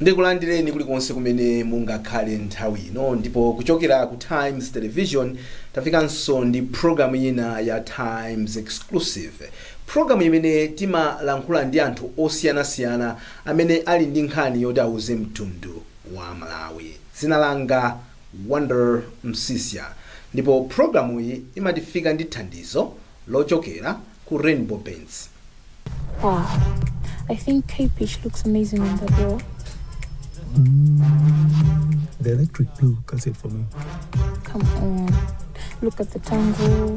ndikulandireni kulikonse kumene mungakhale nthawi ino ndipo kuchokera ku times television tafikanso ndi programu ina ya times exclusive Pulogalamu imene timalankhula ndi anthu osiyanasiyana amene ali ndi nkhani yoti auze mtundu wa Malawi. Dzina langa Wonder Msiska ndipo pulogalamuyi imatifika ndi thandizo lochokera ku Rainbow Paints. Wow. I think K Pitch looks amazing on the door. The electric blue cuts it for me. Come on. Look at the tango.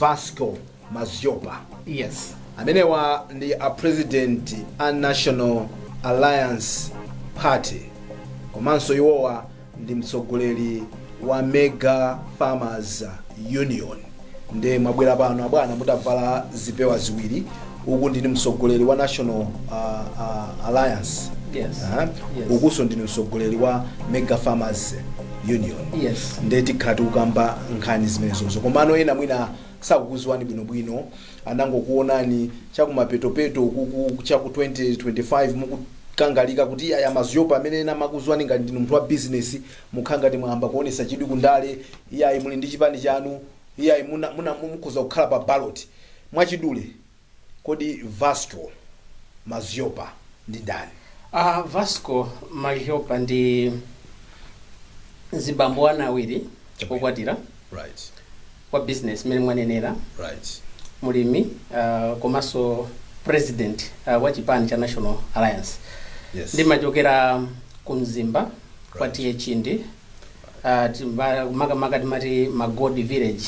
vasco madhlopa Yes. amenewa ndi a president a national alliance party komanso iwowa ndi mtsogoleri wa mega farmers union nde mwabwera pano abwana mutavala zipewa ziwiri uku ndinu mtsogoleri wa national uh, uh, alliance Yes. Aha. Yes. ukunso ndinu mtsogoleri wa mega farmers union Yes. nde tikhala tikukamba nkhani zimenezozo komano ena mwina sakukudziwani bwinobwino anangokuonani chakumapetopeto kuku chaku 2025 mukukangalika kuti ayi a madhlopa amene ena amakudziwani ngati ndinu munthu wa bizinesi mukhala ngati mwayamba kuonesa chidwi kundale iyayi muli ndi chipani chanu iyayi muna- muna- mukhoza kukhala pa ballot Mwachidule, kodi Vasco Madhlopa ndi ndani? A Vasco Madhlopa ndi mzibambo ana awiri Chabwino. okwatira Right, wa business mmene mwanenera right. mulimi uh, komanso president uh, wa chipani cha national alliance Yes. ndimachokera ku mzimba kwa Right. TA Chindi Ah, timba- makamaka timati magodi village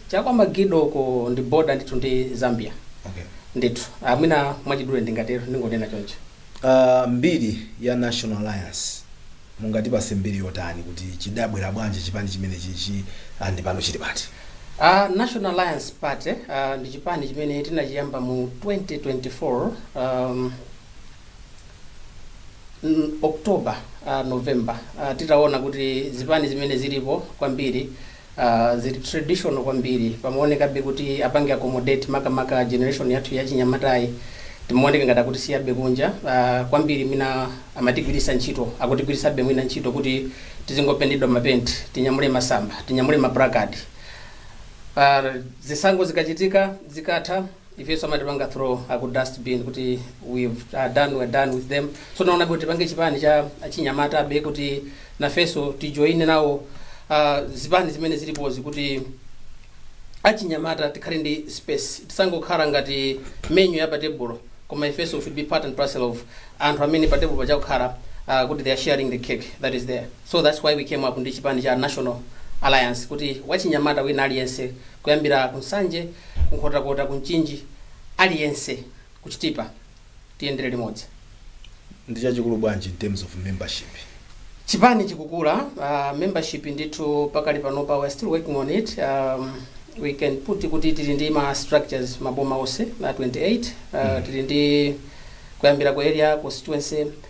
chakwa magido ko ndi boda ndithu ndi zambia okay. ndithu Ah, mwina mwachidule ndingatero ndingonena choncho uh, mbiri ya national alliance mungatipase mbiri yotani kuti chidabwera bwanji chipani chimenechichi andi pano chili pati Uh, National Alliance Party uh, ndi chipani chimene tinachiyamba mu 2024 um, mm, october uh, november uh, titaona kuti zipani zimene zilipo kwambiri uh, zili traditional kwambiri pamaonekabe kuti apange accommodate makamaka generation yathu yachinyamatayi timaoneka ngati akuti tasiyidwabe kunja uh, kwambiri mwina amatigwiritsa ntchito akutigwiritsabe mwina ntchito kuti tizingopentedwa mapenti tinyamule masamba tinyamule maplakadi uh, zisankho zikachitika zikatha ifeso amatipanga throw aku dustbin kuti we've uh, done we're done with them so naona kuti tipange chipani cha achinyamatabe kuti nafeso tijoine nawo uh, zipani zimene zilipozi kuti achinyamata tikhale ndi space tisangokhala ngati menu ya patebulo koma ifeso we should be part and parcel of anthu amene patebulo pachakukhala uh, kuti they are sharing the cake that is there So that's why we came up ndi chipani cha National Alliance kuti wachinyamata wina aliyense kuyambira ku Nsanje, ku Nkhotakota, ku Mchinji, aliyense ku Chitipa tiyendere limodzi. Ndi chachikulu bwanji in terms of membership Chipani chikukula, uh, membership ndithu pakali panopa we are still working on it. Um, we can put kuti tili ndi ma structures maboma onse na 28 uh, tili ndi kuyambira ku area constituency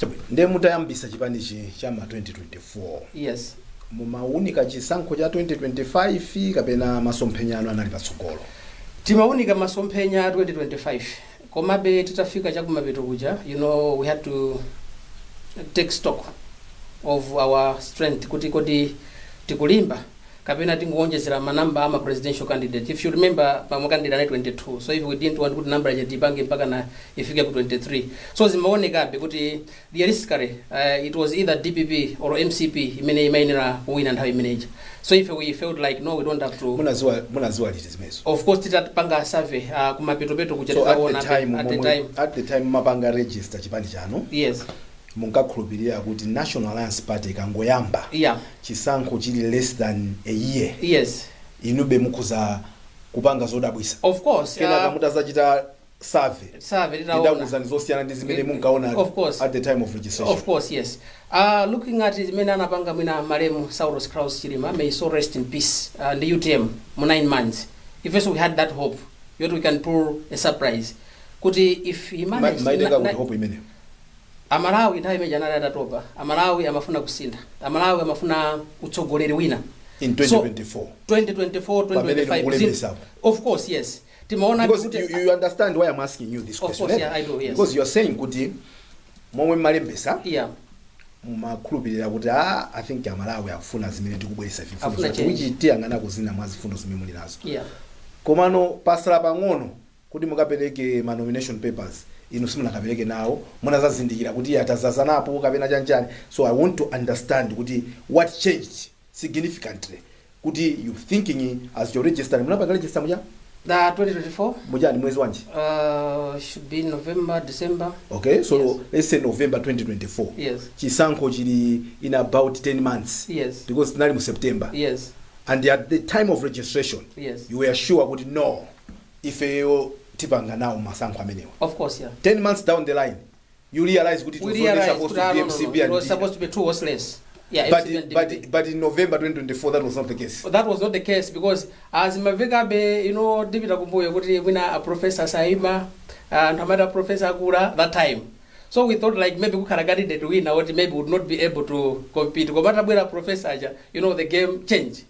Chabwino. Nde mutayambisa chipanichi cha ma 2024. Yes. Mumaunika chisankho cha 2025 kapena masomphenya anu anali patsogolo? Timaunika masomphenya a 2025 komabe titafika chakumapeto kuja you know we had to take stock of our strength kuti kodi tikulimba? kapena tingowonjezera ma number ama presidential candidate if you remember ma ma candidate anali 22 so ife we didn't want kuti number ija tiipange mpakana ifike ku 23 so zimaonekabe kuti realistically uh, it was either dpp or mcp imene imayenera kuwina nthawi imene ija so ife we felt like no we don't have to munaziwa munaziwa liti zimenezo of course titapanga survey uh, kumapetopeto kuja so at titaona the time at the momwe- time at the time mumapanga register chipani chanu yes munkakhulupilira kuti National Alliance Party ikangoyamba Yeah. chisankho chili less than a year Yes. inube mukhoza kupanga zodabwisa Of course. kenaka Uh, mutazachita survey save tinaona. idakuuzani zosiyana ndi zimene Of munkaona course. at the time of registration Of course, yes. Uh, looking at zimene anapanga mwina malemu Saulos Klaus Chilima, may his soul rest in peace, uh, ndi UTM mu 9 months. Ife also we had that hope, yeti we can pull a surprise. Kuti if he Ma- managed... munaitenga kuti hope imeneyo Amalawi nthawi imeneja anali atatopa. Amalawi amafuna kusintha. Amalawi amafuna utsogoleri wina. In So, 2024 2024, pamene inu 2025, zin- mukulembesapo. of course, yes. Timaona Because kuti- you, you understand why I'm asking you this Of question. course, eh? yeah, I do, yes. Because you're saying kuti momwe mmalembesa Yeah. mumakhulupirira kuti ah, I think Amalawi akufuna zimene tikubweresa ife mfundo Afuna zoti change. which tiyang'ana zina mwa mfundo zimene muli nazo. Yeah. Komano patsala pang'ono kuti mukapeleke ma nomination papers inu simunakapeleke nawo munazazindikira kuti iya tazazanapo kapena chani chani so i want to understand kuti what changed significantly kuti you thinking as you register munapanga register muja The 2024 munali mwezi wanji uh, should be November, December. okay so Yes. let's say november 2024 Yes. chisankho chili in about 10 months Yes. because tinali mu september Yes. and at the time of registration Yes. you were sure kuti no ifeyo tipanga nawo masankho amenewa Of course, yeah. 10 months down the line you realize kuti it We was only realized supposed that, to ah, be no, no, no, mcp it and was Dina. supposed to be two horse race. Yeah, but, MCP and but, DPP. but in november 2024 that was not the case But that was not the case because as mavekabe you know ndipita kumbuyo kuti mwina a professor saima anthu amati a professor akula that time so we thought like maybe kukhala candidate wina woti maybe would not be able to compete koma atabwera professor aja you know the game change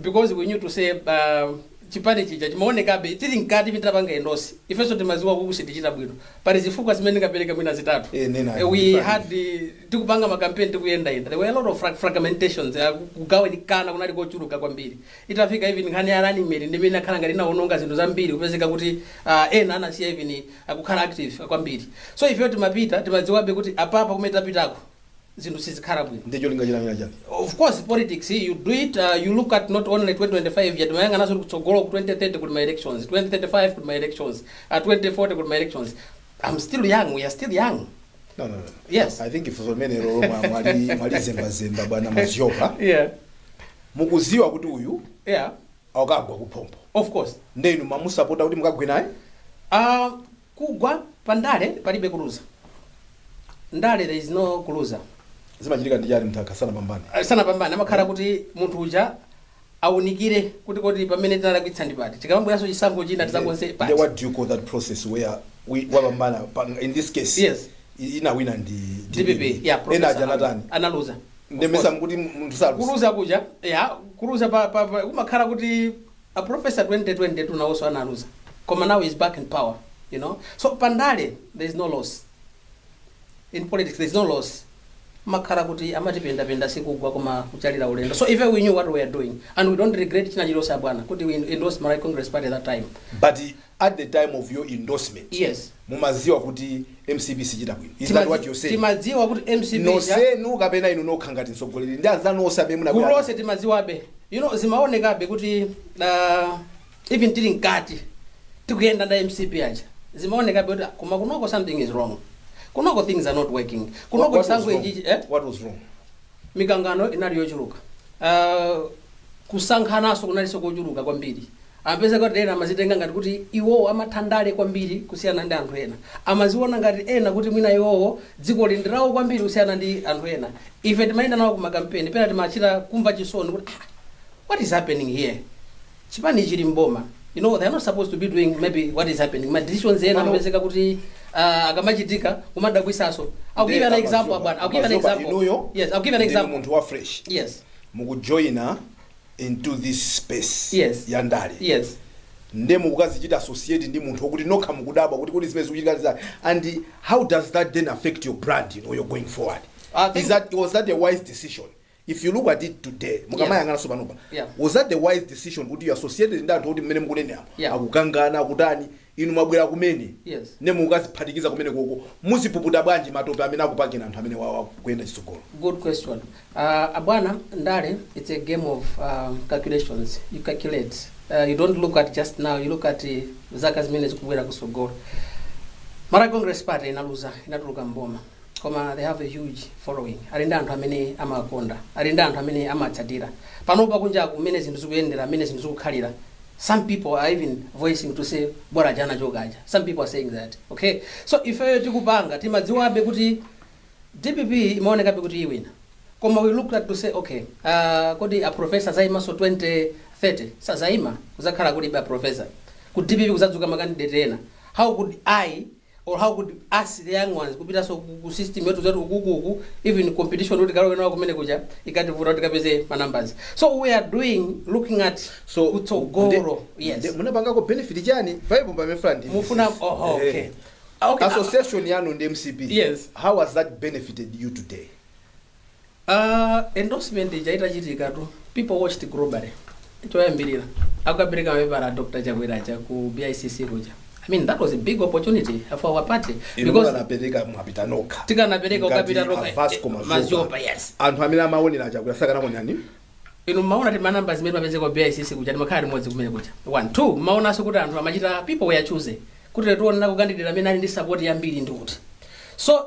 because we knew to say uh, chipani chija chimaonekabe tili mkati titapanga endosi ifenso timaziwa kuti sitichita bwino pali zifukwa zimene ndingapereke mwina zitatu Eh, nena. Eh, we had eh, tikupanga makampeni tikuyendayenda there were a lot of frag- fragmentations eh, kugawanikana kunali kochuluka kwambiri itafika even nkhani ya running mate ndi imene inakhala ngati inaononga zinthu zambiri kupezeka kuti ah, ena anasiya even kukhala active kwambiri so ifeyo timapita timadziwabe kuti apapa kumene tapitako zinthu sizikhala bwino ndi cholinga china china chake of course politics you do it uh, you look at not only 2025 yet umayang'ananso kutsogolo ku 2030 kuli ma elections 2035 kuli ma elections uh, 2040 kuli ma elections i'm still young we are still young no, no, no. Yes. i think funso limenelolo mwa- mwali mwalizembazemba bwana mazioka yeah mukuziwa kuti uyu yeah akagwa kuphompho of course nde inu mumamusapota kuti mukagwe naye uh, Kugwa pa ndale palibe kuluza. Ndale there is no kuluza. Zimachitika ndi chani munthu akasanapambane? Sanapambane amakhala kuti munthu uja aunikire kuti kodi pamene tinalakwitsa ndi pati. Tikamabweranso chisankho china tizakonze pati. Nde what do you call that process where wina wapambana in this case? Yes. Inawina ndi DPP. DPP yeah professor. Ena aja anatani. Analuza. Nde mesa mkuti munthu saluza. Kuluza kuja yeah kuluza pa, pa, pa umakhala kuti A professor 2022 nawoso analuza koma now is back in power you know so pa ndale there is no loss in politics there is no loss makhala kuti amati penda penda sikugwa koma kuchalira ulendo so even we knew what we were doing and we don't regret china chilose abwana kuti we endorse Malawi Congress Party at that time but at the time of your endorsement Yes. mumaziwa kuti mcp sichita bwino is that Timazi- what you're saying timadziwa kuti mcp ja- nonsenu kapena inu nokha ngati mtsogoleri ndi anzanu onse amene gulu munabwera lonse timadziwabe you know zimaonekabe kuti uh, even tili mkati tikuyenda nda a mcp aja zimaonekabe kuti ah, koma kunoko something is wrong kunoko things are not working What- kunoko what was chisankho wrong? ichichi eh? What was wrong? mikangano inali yochuluka uh, kusankhananso kunalinso kochuluka kwambiri Amapezeka kuti ena amazitenga ngati kuti iwowo amatha ndale kwambiri kusiyana ndi anthu ena. Amaziona ngati ena kuti mwina iwowo dzikoli ndi lawo kwambiri kusiyana ndi anthu ena. Ife timayenda nawo ku makampeni, pena timachita kumva chisoni kuti ah, what is happening here? Chipanichi chili m'boma, you know, they are not supposed to be doing maybe what is happening. Ma decisions ena Pano- amapezeka kuti ah, akamachitika kumadabwisanso. I'll give you an Nde example, amadzaba- bwana. I'll give you an amazoba example. inuyo Yes, I'll give you an ndinu example. munthu wa fresh Yes. mukujoyina into this space Yes. ya ndale yes nde mukukazichita associate ndi munthu okuti nokha mukudabwa kuti kodi zimene zikuchitika ndi chani and how does that then affect your brand you know, you're going forward I think- Is that, was that a wise decision if you look at it today mukamayang'ana sopanopa Yeah. was that the wise decision kuti mukachite associate ndi anthu oti mmene mukunenera Yeah. akukangana akutani Inu mwabwera kumene Yes. nde mukukaziphatikiza kumenekoko muzipuputa bwanji matope amene akupakani anthu amenewawa kuyenda chitsogolo. Good question. Uh, abwana, ndale, it's a game of um, calculations. You calculate. Uh, you don't look at just now, you look at uh, zaka zimene zikubwera kusogolo. Malawi Congress Party inaluza, inatuluka mboma. koma they have a huge following ali ndi anthu amene amawakonda ali ndi anthu amene amawatsatira panopa kunjaku mmene zinthu zikuyendera mmene zinthu zikukhalira some people are even voicing to say bola njala tchokaja some people are saying that okay so ifeyo tikupanga timadziwabe kuti dpp imaonekabe kuti iwina koma we looked at to say okay uh, kodi a professor azaimanso 2030 sazaima kuzakhala kulibe a professor ku dpp kuzadzuka makandidate ena how could i or how could us the young ones kupitanso ku- ku system yathu yathu ukuku even competition kuti tikalowe nawo kumene kuja ikanativuta kuti tikapeze ma numbers so we are doing looking at so kutsogolo nde- yes nde munapangako benefit chani paipo pamene ndimafuna mufuna MCP. oh, Eh. okay Ah, okay ah, association yanu ndi mcp Yes. how has that benefited you today Aaa endorsement ija itachitikatu people watched globally choyambirira akukapereka mapepala a Dr. Chakwera aja ku BICC kuja I mean that was a big opportunity for our party inu because munakapereka mwapita nokha tikanapereka Ngati ukapita toka a Vasco Mazopa. mazopa yes anthu amene amaonera chakwera sakanakuonani inu mmaona kuti manamba zimene timapeza kwa BICC kuja timakhala limodzi kumene kuja one two mmaonanso kuti anthu amachita people were choosing kuti tione candidate amene ali ndi support yambiri ndi kuti so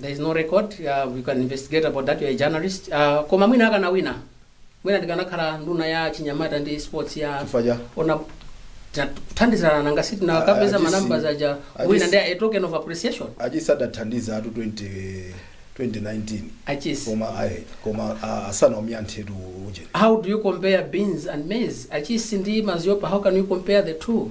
there is no record uh, we can investigate about that you're a journalist uh, koma mwina akanawina mwina ndikanakhala nduna ya chinyamata ndi sports ya Chifukwa cha? poti tinathandizana nanga si tikanapeza Ah, ah, manamba this- aja ah, wina this- ndi a token of appreciation achisi adathandizatu 20 2019 achisi koma ayi koma ah, asanawombe anthutu uje how do you compare beans and maize achisi ndi mazopa how can you compare the two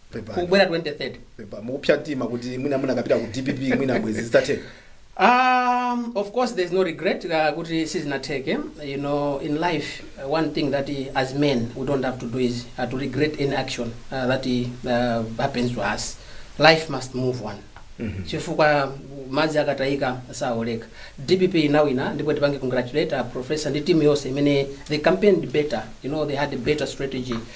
Pepani. kubwera 2030 Kapena mukupsa mtima kuti mwina munakapita ku dpp mwina bwenzi zitatheka Um, of course, there's no regret. Uh, kuti sizinatheke. You know, in life, uh, one thing that uh, as men we don't have to do is uh, to regret any action uh, that uh, happens to us. Life must move on. chifukwa madzi akatayika sawoleka dpp inawina ndipo tipange congratulate uh, professor ndi timu yonse imene they campaigned better you know they had a better strategy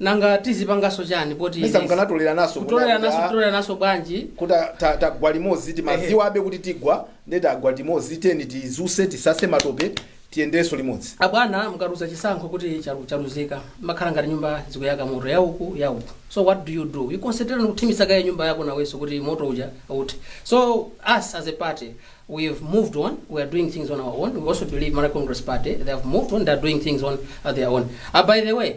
nanga tizipanganso chani poti mesa izi- mukanatolerananso kutolerananso kutolerananso bwanji kuti a- ta- tagwa limodzi timadziwabe kuti tigwa nde tagwa limodzi then tidzuke tisase matope tiyendenso limodzi abwana mukaluza chisankho kuti chalu- chaluzika mmakhala ngati nyumba zikuyaka moto ya uku ya uku so what do you do you concentrate on kuthimitsa kaye nyumba yako nawenso kuti moto uja uthe so us as a party we have moved on we are doing things on our own we also believe malawi congress party they have moved on they are doing things on uh, their own uh, by the way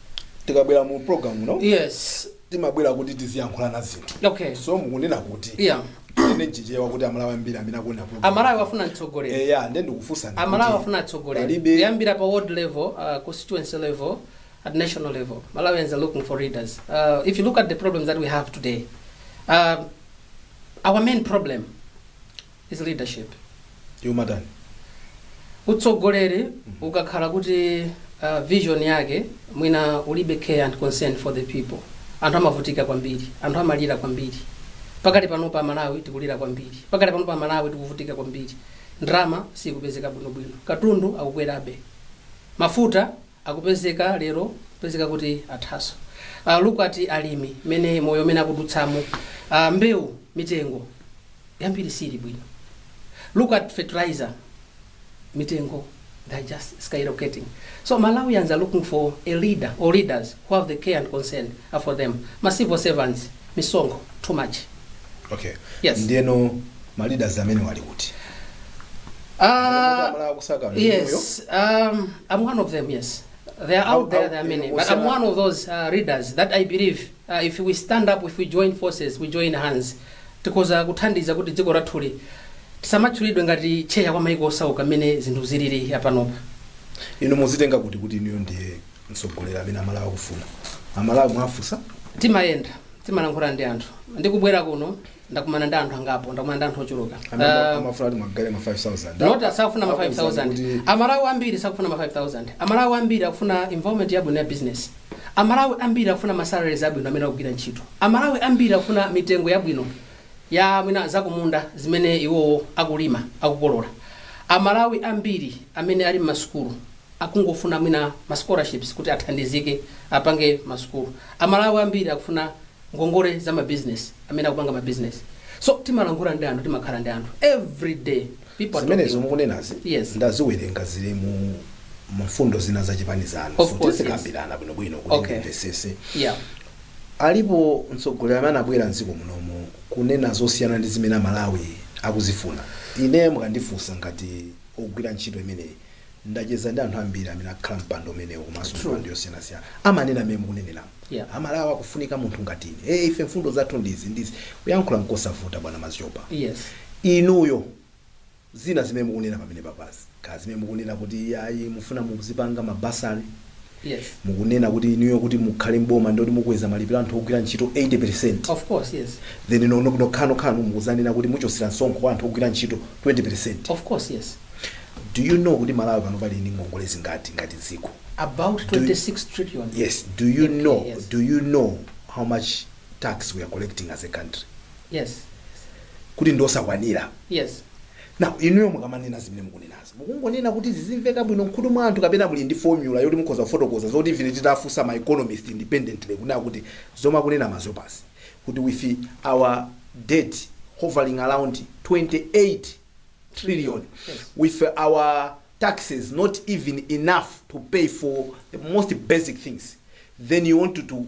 tikabwera mu program muno yes timabwera kuti tiziyankhulana zinthu okay so mukunena kuti yeah mchichewa kuti amalawi ambiri amene akuona program amalawi akufuna mtsogoleri eya nde ndikufunsani amalawi akufuna atsogoleri palibe- kuyambira pa ward level uh, constituency level at national level malawians are looking for leaders uh, if you look at the problems that we have today uh, our main problem Is leadership yomatani utsogoleri ukakhala kuti uh, vision yake mwina ulibe care and concern for the people anthu amavutika kwambiri anthu amalira kwambiri pakati pano pa malawi tikulira kwambiri pakati pano pa malawi tikuvutika kwambiri ndrama sikupezeka bwinobwino katundu akukwerabe mafuta akupezeka lero kupezeka kuti athaso uh, look at alimi mene moyo umene akudutsamo uh, mbewu mitengo yambiri siili bwino look at fertilizer mitengo they're just skyrocketing so malawians are looking for a leader or leaders who have the care and concern for them ma civil servants misonkho too much okay Yes. ndiyeno ma leaders amenewa ali kuti Ah, Amene akusaka ndi moyo. yes, um, I'm one of them, yes. They are How- out there, how- there are many. But I'm Osema- one of those uh, leaders that I believe uh, if we stand up, if we join forces, we join hands, tikoza kuthandiza kuti dziko lathuli lisamatchulidwe ngati tcheya wa maiko osauka mmene zinthu zilili apanopa. inu mudzitenga kuti kuti inuyo ndiye mtsogoleri amene amalawi akufuna amalawi mwafunsa Timayenda. timalankhula ndi anthu ndikubwera kuno ndakumana ndi anthu angapo ndakumana ndi anthu ochuluka Anamba- Eh, amafuna kuti muwagaire ma 5000 not sakufuna ma Akuwuza 5000 kuti- amalawi ambiri sakufuna ma 5000 amalawi ambiri akufuna environment yabwino ya business amalawi ambiri akufuna ma salaries abwino amene akugwira ntchito amalawi ambiri akufuna mitengo yabwino ya mwina zakumunda zimene iwowo akulima akukolola amalawi ambiri amene ali m'masukulu akungofuna mwina ma scholarships kuti athandizike apange masukulu. Amalawi ambiri akufuna ngongole za ma business amene akupanga ma business. So timalankhula ndi anthu timakhala ndi anthu every day people are zimenezo talking. mukunenazi Yes. ndaziwerenga zili mu mfundo zina za chipani chanu Of so course, tidzikambirana bwinobwino kuti Okay. ndimvesese Yeah. alipo mtsogoleri amene anabwera mdziko munomu kunena zosiyana ndi zimene amalawi akuzifuna ine mukandifunsa ngati wogwira ntchito imeneyi ndacheza ndi anthu ambiri amene akhala mpando umenewu komanso True. mipando yosiyanasiyana amanena mmene mukuneneramu Yeah. amalawi akufunika munthu ngati ine hey, ife mfundo zathu ndizi ndizi kuyankhula nkosavuta bwana madzitsopa yes inuyo zina zimene mukunena pamenepazi kaya zimene mukunena kuti ayi mufuna muzipanga mabasali Yes. mukunena kuti inuyo kuti mukhale mboma nditi mukweza malipiro anthu ogwira ntchito 80 Of course, yes. then no- no- nokhanokhano mukudzanena kuti muchotsera msonkho kwa anthu ogwira ntchito 20 Of course, yes. do you know kuti malawi panopa ali ndi ngongole zingati ngati dziko About Do- 26 trillion. yes do you Okay, know yes. do you know how much tax we are collecting as a country Yes. kuti njosakwanira Yes. now inuyo mukamanena zimene mukunenazo Mukungonena kuti zizimveka bwino mkhutu mwa anthu kapena muli ndi formula yoti mukhoza kufotokoza zoti even titafunsa ma economist independently kunena kuti zomwe akunena Maziopasi kuti with our debt hovering around 28 trillion with our taxes not even enough to pay for the most basic things then you want to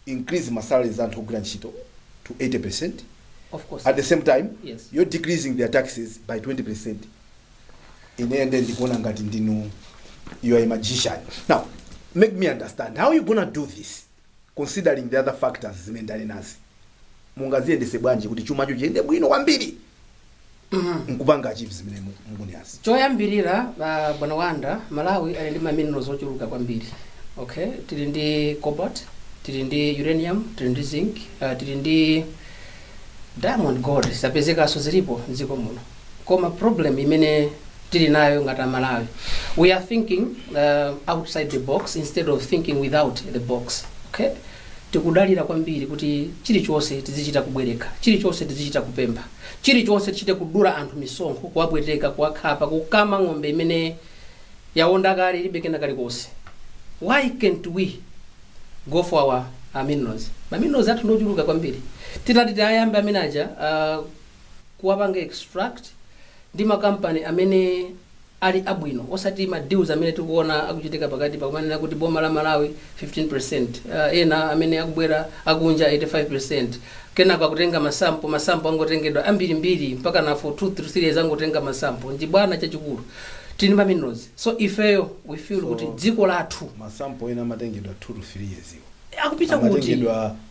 increase ma salaries anthu ogwira ntchito to 80% Of course. at the same time Yes. you're decreasing their taxes by 20% ine nde ndikuona ngati ndinu you are a magician now make me understand how you gonna do this considering the other factors zimene tili nazo mungaziyendetse bwanji kuti chumacho chiyende bwino kwambiri nkupanga achieve zimene mu- mukunenazi choyambirira ah, bwana Wanda Malawi ali ndi ma minerals ochuluka kwambiri okay tili ndi cobalt tili ndi uranium tili ndi zinc ah, tili ndi diamond gold zapezekanso zilipo mdziko muno koma problem imene tili nayo ngati amalawi we are thinking uh, outside the box instead of thinking without the box okay tikudalira kwambiri kuti chilichonse tizichita kubwereka chilichonse tizichita kupempha chilichonse tichite kudula anthu misonkho kuwapweteka kuwakhapa kukama ng'ombe imene yawonda kale ilibe kena kalikonse why can't we go for our uh, minerals ma minerals athu ndiochuluka kwambiri titati tiyayambe amene aja uh, kuwapanga extract ndi ma company amene ali abwino osati ma deals amene tikuona akuchitika pakati pa kumanena kuti boma la Malawi 15% uh, ena amene akubwera akunja 85% kenako akutenga masampo masampo angotengedwa ambirimbiri mpakana for 2 3 years angotenga masampo nchibwana chachikulu tili ndi ma minerals so ifeyo we feel So- kuti dziko lathu masampo ena amatengedwa 2 to 3 years iwo akupita kuti amatengedwa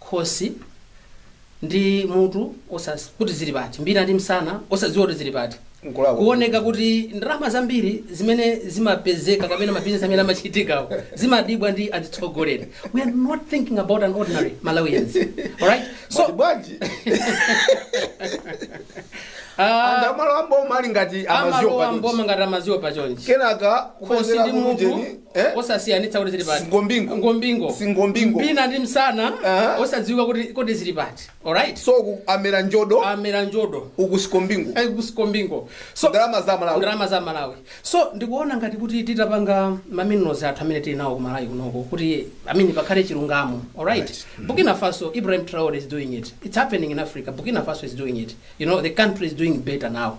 khosi ndi mutu osa- kuti zili pati mbina ndi msana osadziwa kuti zili pati Nkulakwa. kuoneka kuti ndalama zambiri zimene zimapezeka kapena mabizinesi amene amachitikawo zimadyedwa ndi atsogoleri we are not thinking about an ordinary Malawians alright so Mwati bwanji ah, anthu amalowa m'boma ali ngati Amaziopa amalowa pati m'boma ngati Amaziopa chonchi kenaka khosi ndi mutu Eh? osasiyanitsa kuti zili pati Singombingo. singombingo Singombingo. mbina ndi msana Aha. osadziwika kuti kodi zili pati alright so ku amera njodo amera njodo uku singombingo Eh, ku singombingo so ndalama za Malawi ndalama za Malawi so ndikuona ngati kuti titapanga ma minerals athu amene tili nawo ku Malawi kunoko kuti amane pakhale chilungamo alright Burkina Faso Ibrahim Traore is doing it it's happening in Africa Burkina Faso is doing it you know the country is doing better now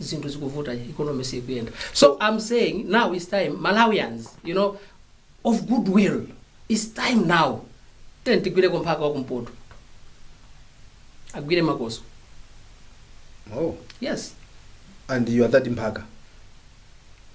zinthu zikuvuta ikonome sikuyenda so i'm saying now is time malawians you know of good will is time now time tigwireko mphaka wa kumpoto agwire makoswe oh. yes and you are that mphaka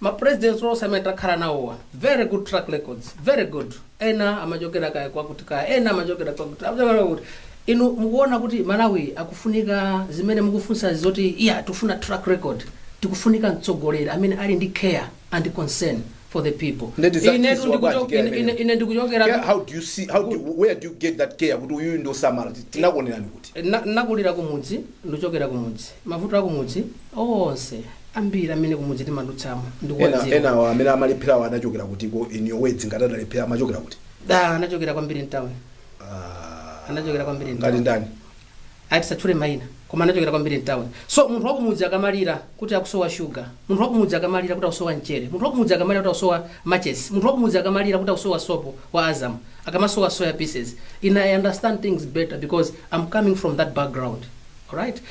Ma presidents onse amene takhala nawo awa very good track records very good ena amachokera kaya kwakuti kaya ena amachokera kwakuti amachokera kwakuti inu mukuona kuti Malawi akufunika zimene mukufunsazi zoti iya tifuna track record tikufunika mtsogoleri amene ali ndi care and concern for the people Nde tizachiziwa ifetu bwanji ndikucho- care ine- ine- imeneyo? ine ndikuchokera Care, how do you see how do you, where do you get that care kuti uyuyu ndiosamala tinakuonerani kuti Na- nakulira kumudzi ndikuchokera kumudzi mavuto akumudzi onse ambiri amene kumudzi timadutsamo ena ndikuwadziwa ena awa amene amalepherawo anachokera kutiko in your words ngati adalephera amachokera kuti nde anachokera kwambiri mtown Ah, anachokera kwambiri ngati mtown ndani ah tisatchule maina koma anachokera kwambiri mtown so munthu wakumudzi akamalira kuti akusowa shuga munthu wakumudzi akamalira kuti akusowa mchere munthu wakumudzi akamalira kuti akusowa matches munthu wakumudzi akamalira kuti akusowa sopo wa azam akamasowa soya pieces ine i understand things better because i'm coming from that background alright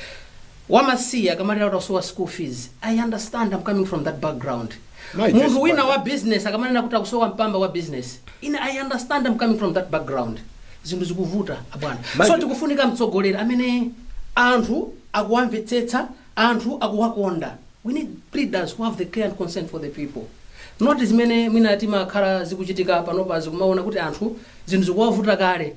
wamasiye akamalira kuti akusowa school fees, i understand, am coming from that background, Mai munthu Joyce wina Banda. wa business akamalira kuti akusowa mpamba wa business, ine i understand, am coming from that background, zinthu zikuvuta abwana, Mai so Jo- tikufunika mtsogoleri amene anthu akuwamvetsetsa, anthu akuwakonda, we need leaders who have the care and concern for the people not zimene mwina timakhala zikuchitika panopa zikumaona kuti anthu zinthu zikuwavuta kale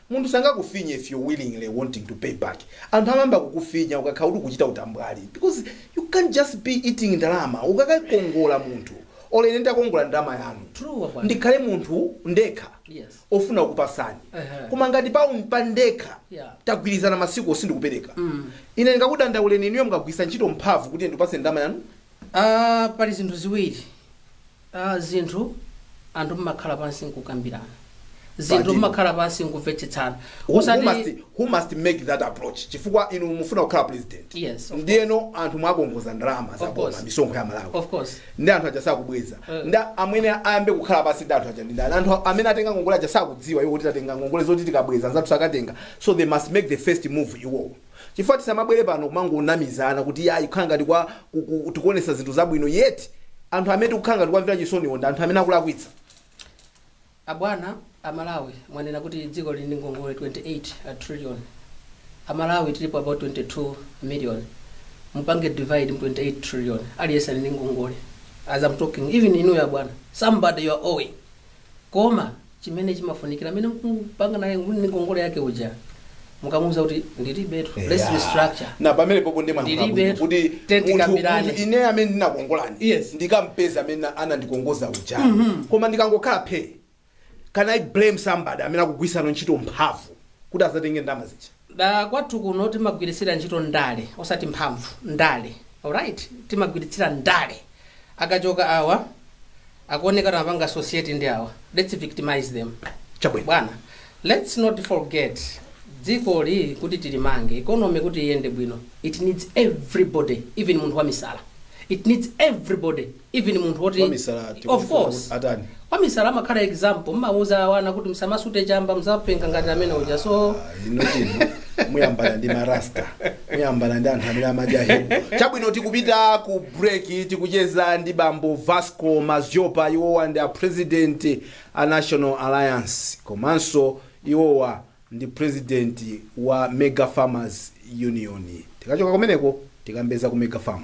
Munthu sangakufinye if you willingly wanting to pay back, anthu amayamba kukufinya ukakhala kuti ukuchita utambwali because you can't just be eating ndalama ukakakongola munthu or ine nditakongola ndalama yanu True abwana. ndikhale munthu ndekha Yes. ofuna kukupasani Ehe. koma ngati pa pa ndekha Yeah. tagwirizana masikuwo sindikupereka Mm. ine ndingakudandauleni inuyo mukagwiritsa ntchito mphamvu kuti ndikupase ndalama yanu Ah, pali zinthu ziwiri a zinthu anthu mmakhala pansi nkukambirana zinthu Pati. mmakhala pansi nkumvetsetsana Who, who, osati must, who must make that approach chifukwa inu mufuna kukhala president Yes, of ndiyeno anthu mwakongoza ndalama za Of boma course. misonkho ya malawi of course ndi anthu aja sakubweza Eh. nde amene ayambe kukhala pansi ndi anthu aja ndi ndani anthu amene atenga ngongole aja sakudziwa iwo kuti tatenga ngongole zoti tikabweza anzathu sakatenga so they must make the first move iwowo chifukwa tisamabwere pano kumangonamizana kuti iyayi kukhala ngati kwa ku- ku- tikuonetsa zinthu zabwino yet anthu amene tikukhala ngati kuwamvera chisoniwo ndi anthu amene akulakwitsa abwana amalawi mwanena kuti dziko lili ndi ngongole 28 trillion amalawi tilipo about 22 million mupange divide mu 28 trillion aliyense ali ndi ngongole as i'm talking even inuyo abwana somebody you are owing koma chimene chimafunikira amene mukupanga naye mwini ngongole yake uja mukamuuza kuti ndilibetu let's restructure na pamene popo ndi mwa Ndilibe mwabwino kuti tenti munthu- kambirani. munthu ine amene ndinakongolani Yes. ndikampeza amene anandikongoza uja koma ndikangokhala phe can i blame somebody amene akugwiritsa ntchito mphamvu kuti azatenge ndama zija Da kwathu kuno timagwiritsira ntchito ndale osati mphamvu. Ndale. Alright? Timagwiritsira ndale. Akachoka awa, akuoneka kuti amapanga associate ndi awa. Let's victimize them. Chabwino. Bwana, let's not forget dzikoli kuti tilimange, economy kuti iyende bwino, it needs everybody, even munthu wamisala. It needs everybody. even munthu woti Wamisala of tikufuna course kuti atani? wamisala amakhala example mmauza ana kuti msamasute chamba mzapenga ngati amene uja so inotino muyambana ndi marasta muyambana ndi anthu amene amadya hip chabwino tikupita ku break tikucheza ndi bambo vasco madziopa iwowa ndi a president a national alliance komanso iwowa ndi president wa Mega Farmers Union. Tikachoka kumeneko tikambe za ku Mega Farm.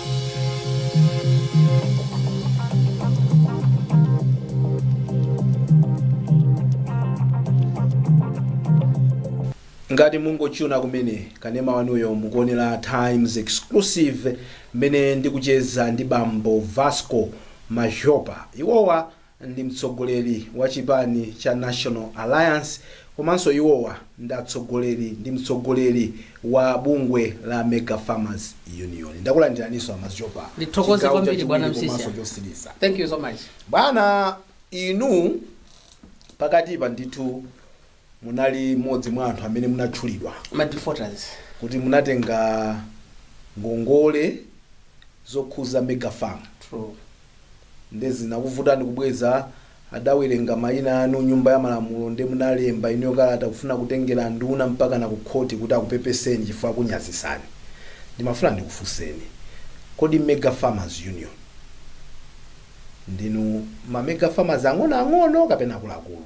ngati mungotchuna kumene kanema wanuyo mukuonera times exclusive mmene ndikucheza ndi bambo vasco madziopa iwowa ndi mtsogoleri wa chipani cha National Alliance komanso iwowa ndi atsogoleri ndi mtsogoleri wa bungwe la Mega Farmers Union. Ndakulandiraninso a Madziopa. Ndithokoze Chigawo kwambiri chachiwiri bwana Msisya. komanso chotsiriza. Thank you so much. Bwana inu pakatipa ndithu munali mmodzi mwa anthu amene munatchulidwa. ma defaulters. kuti munatenga ngongole zokhuza Mega Farm. True. nde zinakuvutani kubweza. Adawerenga maina anu Nyumba ya Malamulo nde munalemba inuyo kalata kufuna kutengera anduna mpakana ku khoti kuti akupepeseni chifukwa akunyazitsani. Ndimafuna ndikufunseni, kodi Mega Farmers Union ndinu ma Mega Farmers ang'onoang'ono kapena akuluakulu?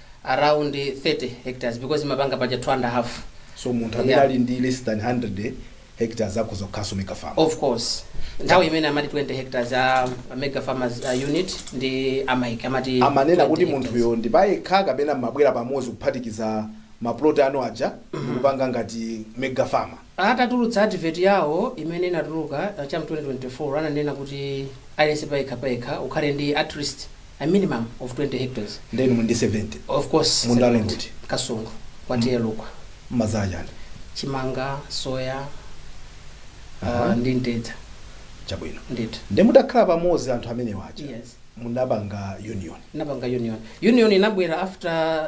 around 30 hectares because imapanga paja 2 and a half so munthu amene Yeah. ali ndi less than 100 hectares akhoza kukhalanso mega farm of course nthawi imene amati 20 hectares a a mega farmers uh, unit ndi amaiki amati amanena 20 kuti hectares. munthuyo ndi payekha kapena mmabwera pamodzi kuphatikiza maplot anu aja ndikupanga ngati mega farmer Atatulutsa advert yawo imene inatuluka cha mu 2024 ananena kuti aliyense payekha payekha ukhale ndi atleast a minimum of 20 hectares. Nde inu muli ndi 70? Of course Munda wanu ndi 70. uti? Kasungu kwa TA Lukwa. Mmadzala chani? Chimanga, soya Aha. uh, ndi mtedza. Chabwino. Ndithu. Nde mutakhala pamodzi anthu amenewa aja Yes. munapanga union? Tinapanga union. Union inabwera after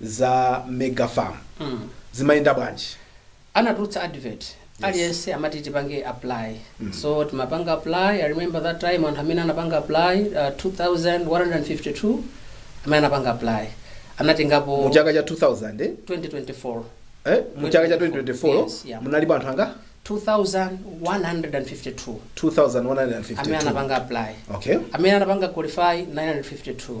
za mega farm zimayenda bwanji anatulutsa advert aliyense amati tipange apply so timapanga apply i remember that time anthu amene anapanga apply uh, 2152 amene anapanga apply anatengapo mu chaka cha 2000 eh? 2024 Eh? mu chaka cha 2024 Yes, yeah. munalipo anthu angati 2152 amene 2152 anapanga apply okay amene anapanga qualify 952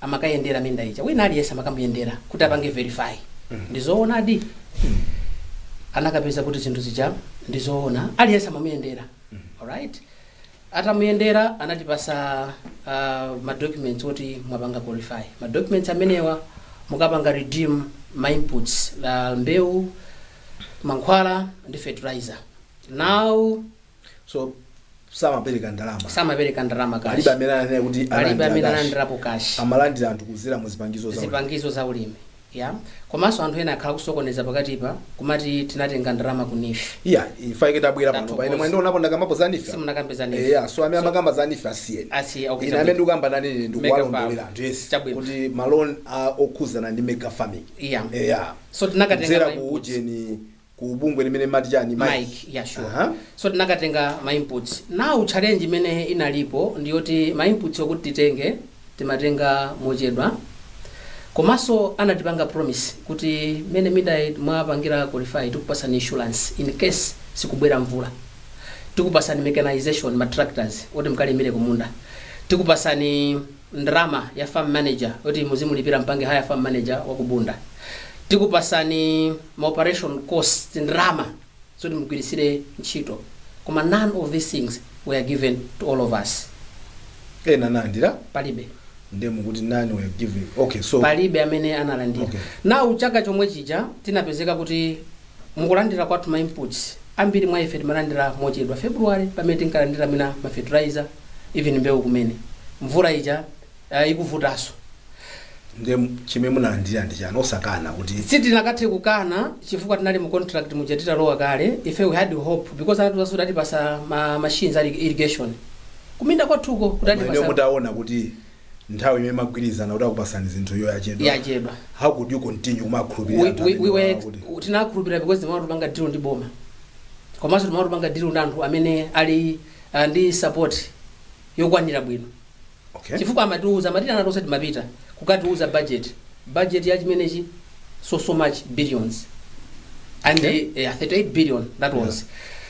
amakayendera minda ija wina aliyense amakamuyendera kuti apange verify ndizoonadi anakapeza kuti zinthu zija ndizoona aliyense amamuyendera alright atamuyendera anatipasa uh, madocuments oti mwapanga qualify madocuments amenewa mukapanga redeem ma inputs like mbewu mankhwala ndi fertilizer now so samapereka ndalama samapereka ndalama palibe kashi amene ananena kuti palibe analandira amene cash. analandirapo kashi amalandira anthu kuzera mu zipangizo zawo zipangizo za ulimi yeah komanso anthu ena akhala akusokoneza pakatipa kumati tinatenga ndalama ku NEEF yeah ifa ike tabwera pano Tathokoza. paine mwendo unapo ndakambapo za NEEF simunakamba za NEEF eya so amene amakamba za NEEF asiyeni asi okay, ine amene ndikukamba nane ine ndikuwalondolera Mega anthu yes Chabwino. kuti ma loan okhuzana ndi mega farming yeah eya so tinakatenga kudzera ma ku inputs. ujeni ku bungwe limene amati chani MAIIC yeah sure Aha. so tinakatenga ma inputs now challenge imene inalipo ndi yoti ma inputs okuti titenge timatenga mochedwa komanso anatipanga promise kuti mmene minda mwapangira qualify tikupasani insurance in case sikubwera mvula tikupasani mechanization ma tractors oti mkalimire kumunda tikupasani ndalama ya farm manager yoti muzimulipira mpange hire farm manager wa ku Bunda. Tikupasani ma operation costs ndalama zoti mugwiritsire ntchito. Koma none of these things were given to all of us. ena analandira Palibe. nde mukuti none were given okay so palibe amene analandira Okay. now chaka chomwe chija tinapezeka kuti Mu kulandira kwathu ma inputs, ambiri mwa ife timalandira mochedwa. February pamene tinkalandira mwina ma fertilizer, even mbewu kumene. Mvula ija ah, ikuvutaso. Nde chimene munalandira ndi chani? Osakana kuti. Sitinakathe kukana chifukwa tinali mu contract muja titalowa kale. Ife we had hope because anatiuzaso kuti atipasa ma machines a irrigation kuminda kwathuko kuti Koma inuyo atipasa. mutaona kuti nthawi imene munagwirizana kuti akupasani zinthu iyo yachedwa Yachedwa. how could you continue kumakhulupirira We- anthu we- amene we were- wakuti- u- tinakhulupirira because timati tikupanga deal ndi boma komanso timati tikupanga deal ndi anthu amene ali ah, ndi support yokwanira bwino okay chifukwa amatiuza amatiitana tonse timapita kukatiuza budget budget ya chimenechi so so much billions and Okay. eh, yeah, 38 billion that was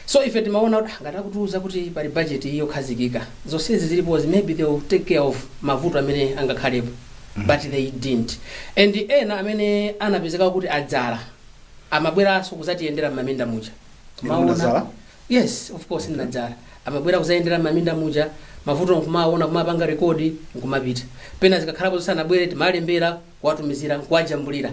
so ife timaona kuti ngati akutiuza kuti pali budget iyi yokhazikika zonsezi zilipo maybe they will take care of mavuto amene angakhalepo but they didn't and ena amene anapezeka kuti adzala amabweranso kudzatiyendera m'maminda muja Inu munadzala? yes of course ndinadzala amabwera kudzayendera m'maminda muja mavuto nkumaona kumapanga rekodi nkumapita pena zikakhalapo zisanabwere timalembera kuwatumizira nkuwajambulira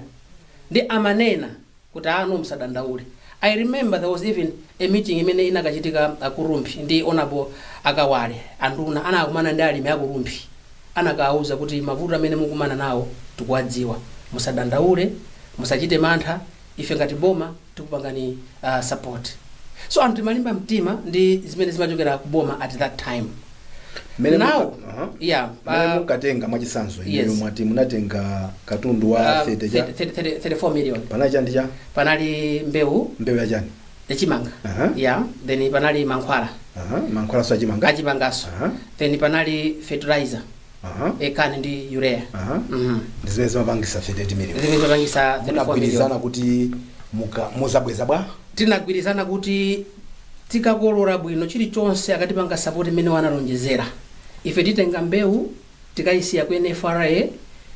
nde amanena kuti aa no musadandaule i remember there was even a meeting imene inakachitika ku Rumphi ndi Honourable a Kawale anduna anakakumana ndi alimi aku Rumphi anakawauza kuti mavuto amene mukumana nawo tikuwadziwa musadandaule musachite mantha Ife ngati boma tikupangani support so anthu timalimba mtima ndi zimene zimachokera ku boma at that time Mmene now muka- aha. yeah Mmene uh, mukatenga mwachitsanzo Yes. inuyo mwati munatenga katundu wa uh, 30 cha 30 30 34 million panali chani chani panali mbewu mbewu ya chani yachimanga Aha. yeah then panali mankhwala Aha, mankhwalanso achimanga achimanganso Aha. then panali fertilizer Aha. CAN ndi urea Aha. Mhm. ndi zimene zimapangitsa 38 million zimene zimapangitsa 34 million munagwirizana kuti muka- mudzabweza bwanji tinagwirizana kuti tikakolora bwino chilichonse akatipanga sapoti imene analonjezera ife titenga mbewu tikayisiya ku nfra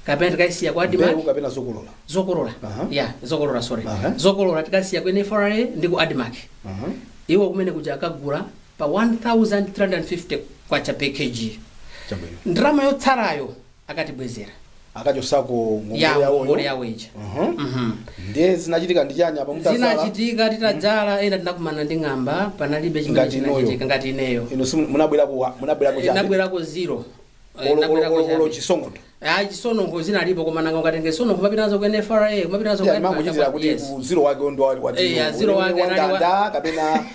kapena tikayisiya ku admarc mbewu kapena zokolola zokolola Aha. ya zokolola sorry Aha. zokolola tikayisiya ku nfra ndi ku admarc Aha. iwo kumene kuja akagula pa K1350 per kg. Chabwino. Ndalama yotsalayo akatibwezera Akachotsako ngongole ya yawo ngongole yawo. yawo ija. Mhm. Mhm. Ndiye zinachitika ndi chani apa mutadzala? zinachitika titadzala ena tinakumana ndi ng'amba panalibe chimene Ngati inuyo. chinachitika ngati ineyo Inu simu- munabwerako wa- munabwerako chani? nabwerako zero Eh, Olo- nabwera olo- olo- kuchabe. olo chisononkho ayi zisononkho zinalipo koma nanga ukatenge zisononkho kumapita nazo ku nfra kumapita nazo Yeah, mangochitira kuti Yes. ku zero wake ndo wa- wa Eh, zero. ya zero wake Wa anali wa- ndanda kapena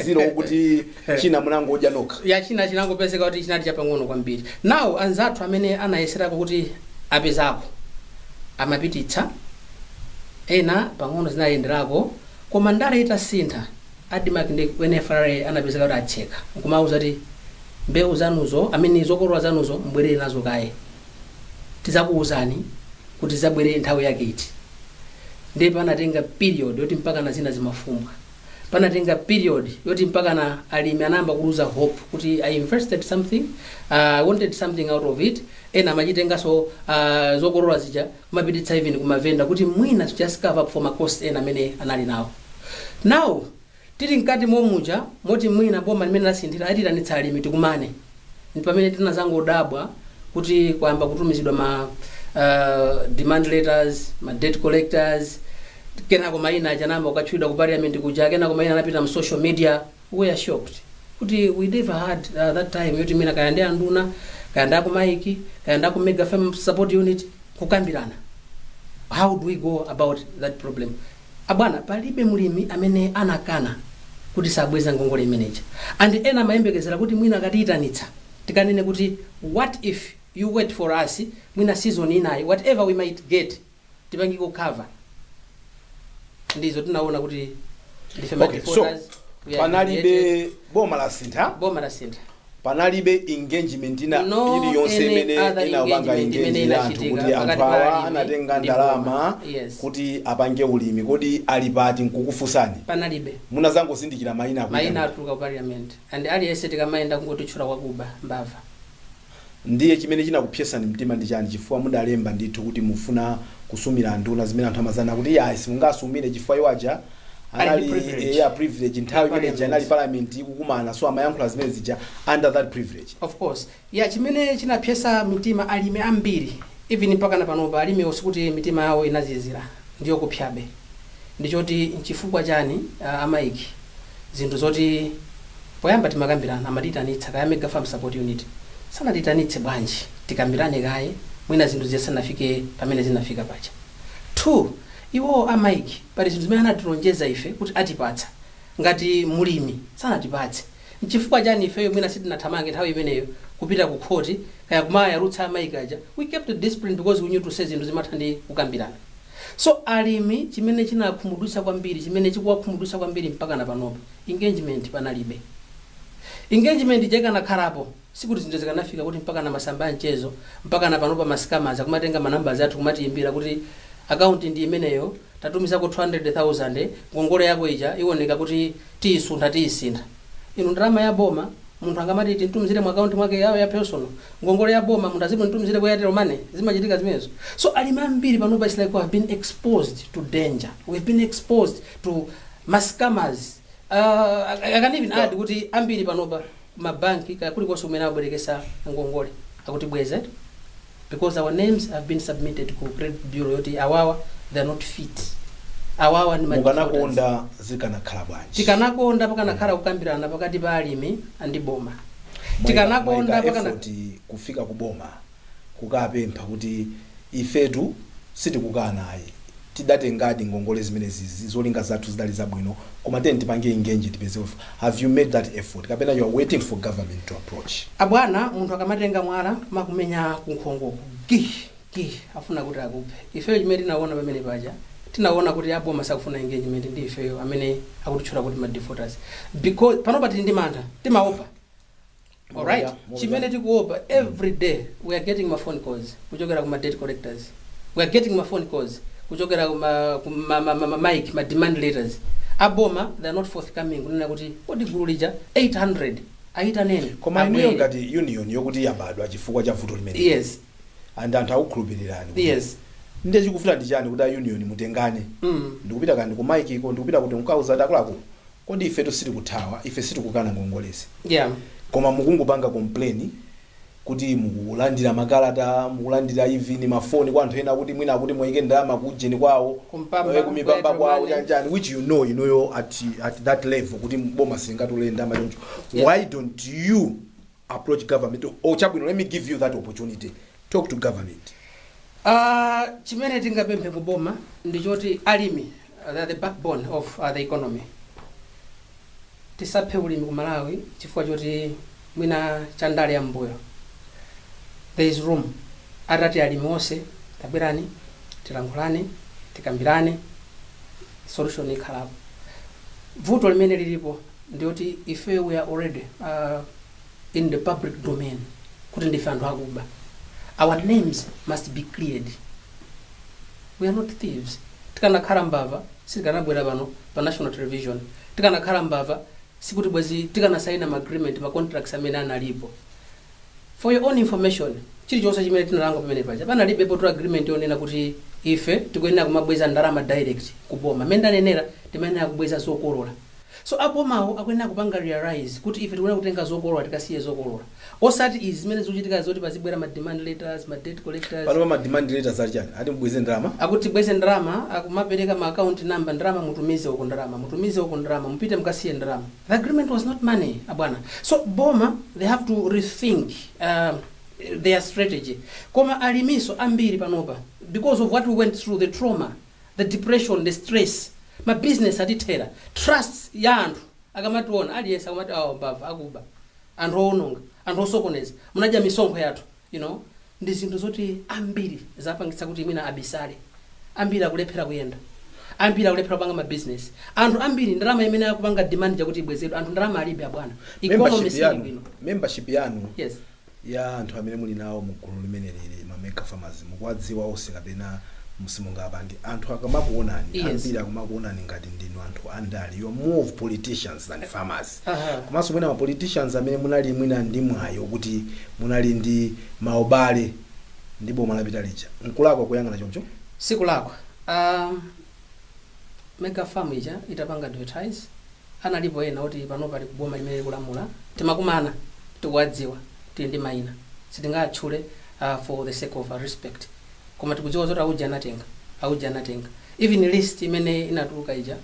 zero wokuti china munangodya nokha ya china chinangopezeka kuti chinali chapang'ono kwambiri now anzathu amene anayeserako kuti apezako amapititsa ena pang'ono zinayenderako koma ndale zitasintha Admarc ndi ku NFRA anapezeka kuti atseka nkumawauza kuti mbewu zanuzo I mean zokolola zanuzo mubwerere nazo kaye tidzakuuzani kuti zidzabwere nthawi yake iti ndiye panatenga period yoti mpakana zina zimafumbwa panatenga period yoti mpakana alimi anayamba kuluza hope kuti I invested something uh, I wanted something out of it ena amachitenganso uh, zokolola zija kumapititsa even ku mavenda kuti mwina to just cover up for ma cost ena amene anali nawo. Now tili mkati momuja moti mwina boma limene lasinthira atiitanitsa alimi tikumane ndi pamene tinazangodabwa kuti kwayamba kutumizidwa ma uh, demand letters, ma debt collectors, kenako maina aja anayamba kukatchulidwa ku parliament kuja, kenako maina anapita mu social media. We are shocked kuti we never had uh, that time yoti mwina kaya ndi anduna kaya ndi a ku MAIIC kaya ndi a ku mega farm support unit kukambirana how do we go about that problem abwana palibe mlimi amene anakana kuti sabweza ngongole imeneja and ena amayembekezera kuti mwina akatiyitanitsa tikanene kuti what if you wait for us mwina season inayi whatever we might get tipangeko cover ndi izo tinaona kuti ndife okay, so madefaulters, we are panalibe humiliated. boma lasintha boma lasintha panalibe engagement ina No iliyonse any imene other inapanga engagement imene engage anthu inachitika kuti anthu pakati pa awa alimi anatenga ndi ndalama boma. Yes. kuti apange ulimi kodi ali pati nkukufunsani panalibe munazangozindikira mayina akuti mayina atuluka ku parliament and aliyense tikamayenda kungotitchula kuti akuba mbava Ndiye chimene chinakupsesani mtima ndi chani chifukwa mudalemba ndithu kuti mufuna kusumira anduna zimene anthu amadzanena kuti iyayi simungasumire chifukwa iwo aja Ali ndi anali privilege. eya privilege Ya nthawi imene ija anali parliament. parliament ikukumana so amayankhula zimene zija under that privilege. Of course. Ya chimene chinapsesa mitima alimi ambiri even mpakana panopa alimiwo sikuti mitima yawo inazizira ndiyokupsabe ndichoti nchifukwa chani ah, a MAIIC zinthu zoti poyamba timakambirana amatiitanitsa kaya mega farm support unit sanatiitanitse bwanji tikambirane kaye mwina zinthu zisanafike pamene zinafika paja 2 iwowo a MAIIC pali zinthu zimene anatilonjeza ife kuti atipatsa ngati mlimi sanatipatse nchifukwa chani ifeyo mwina sitinathamange nthawi imeneyo kupita ku khoti kaya kumayalutsa a MAIIC aja we kept discipline because we knew to say zinthu zimatha ndi kukambirana So alimi chimene chinawakhumudwitsa kwambiri chimene chikuwakhumudwitsa kwambiri mpakana panopa engagement panalibe. Engagement ija ikanakhalapo sikuti zinthu zikanafika kuti mpakana masamba a mchezo mpakana panopa ma scammers akumatenga ma numbers athu kumatiyimbira kuti akaunti ndi imeneyo tatumizako 200,000 ngongole yako ija iwoneka kuti tiyisuntha tiyisintha. Inu ndalama ya boma munthu angamati timtumizire mu account mwake ya, ya personal ngongole ya boma munthu azimtumizire ku Airtel money zimachitika zimenezo so alimi ambiri panopa it's like we have been exposed to danger we have been exposed to mascammers uh, I, I can even add kuti ambiri panopa mabanki kaya kulikonse kumene abwerekesa ngongole akuti bweze because our names have been submitted ku credit bureau yoti awawa they are not fit awawa ndi ma defaulters. mukanakonda zikanakhala bwanji tikanakonda pakanakhala kukambirana pakati pa alimi ndi boma tikanakonda pakana mwaika effort kufika ku boma kukapempha kuti ifetu sitikukana ayi tidatengadi ngongole zimenezi izi zolinga zathu zidali zabwino koma tiyeni tipange engage tipeze uh have you made that effort kapena you are waiting for government to approach. Abwana munthu akamatenga mwala kumakumenya kunkhongoku gi gi afuna kuti akuphe. Ifeyo chimene tinawona pamene paja tinawona kuti a boma sakufuna engagement ndi ifeyo amene akutitchula kuti ma defaulters because panopa tili ndi mantha timaopa alright chimene tikuopa every day we are getting ma phone calls kuchokera kuma debt collectors we are getting ma phone calls kuchokera kuma kuma- ma- ma- ma- mic ma demand letters aboma they are not forthcoming kunena kuti kodi gulu lija 800 ayitaneni koma inuyo abwere. ngati union yokuti yabadwa chifukwa cha vuto limene yes and anthu akukhulupirirani kuti yes ndiye chikuvuta ndi chiyani kuti a union mutengane mm. ndikupita kaya ndi ku MIC-ko ndikupita kuti mukauze kuti akuluakulu Kodi ifetu sitikuthawa? Ife sitikukana ngongolezi. Koma mukungopanga complain kuti mukulandira makalata, mukulandira even ma phone kwa anthu ena kuti mwina kuti muwaike ndalama ku ujeni kwawo, ku Mpamba, eh, ku Mpamba Airtel kwawo money. chani chani which you know inuyo at, at that level kuti boma silingatole ndalama choncho. Why don't you approach government or chabwino let me give you that opportunity talk to government Ah, chimene tingapemphe ku boma ndi choti alimi uh, they are the backbone of uh, the economy tisaphe ulimi ku malawi chifukwa choti mwina cha ndale ya m'mbuyo there is room atati alimi onse tabwerani tilankhulane tikambirane solution ikhalapo vuto limene lilipo ndi loti ifeyo we are already uh, in the public domain kuti ndife anthu akuba our names must be cleared we are not thieves tikanakhala mbava sitikanabwera pano pa national television tikanakhala mbava sikuti bwezi tikanasaina ma agreement ma contracts amene analipo for your own information chilichonse chimene tinalonga pamene paja panalibe poti agreement yonena kuti ife tikuyenera kumabweza ndalama direct kuboma mmene ndanenera timayenera kubweza zokolola So abomawo akuyenera kupanga realise kuti ife tikuyenera kutenga zokolola tikasiye zokolola osati izi zimene zikuchitikazi zoti pazibwera ma demand letters, ma debt collectors. Panopa ma demand letters ati chani? Ati mubweze ndalama? Akuti tibweze ndalama, akumapereka ma account number, ndalama mutumize uko, ndalama mutumize uko, ndalama mupite mukasiye ndalama. The agreement was not money abwana. So boma they have to rethink um, their strategy. Koma aliminso ambiri panopa because of what we went through, the trauma, the depression, the stress, ma business atithera, trust ya anthu akamationa aliyense akumati awa mbava, akuba, anthu owononga, anthu osokoneza, munadya misonkho yathu you know ndi zinthu zoti ambiri zapangitsa kuti mwina abisale, ambiri akulephera kuyenda, ambiri akulephera kupanga ma business, anthu ambiri ndalama imene akupanga demand ija kuti ibwezedwe anthu ndalama alibe abwana, economy sili bwino. Membership yanu Yes. ya anthu amene muli nawo mu gulu limeneli la ma mega farmers mukuwadziwa onse? kapena simunga pangani anthu akamakuonani Yes. ambiri akamakuonani ngati ndinu anthu andale you are more of politicians than farmers Aha. komanso mwina ma politicians amene munali mwina ndi mwayo kuti munali ndi maubale ndi boma lapita lija nkulakwa kuyang'ana choncho sikulakwa uh, mega farm ija itapanga advertise analipo ena oti panopa ali ku boma limene likulamula timakumana tikuwadziwa tili ndi maina sitingatchule uh, for the sake of respect koma tikudziwa zoti auja anatenga auja anatenga even list imene inatuluka ija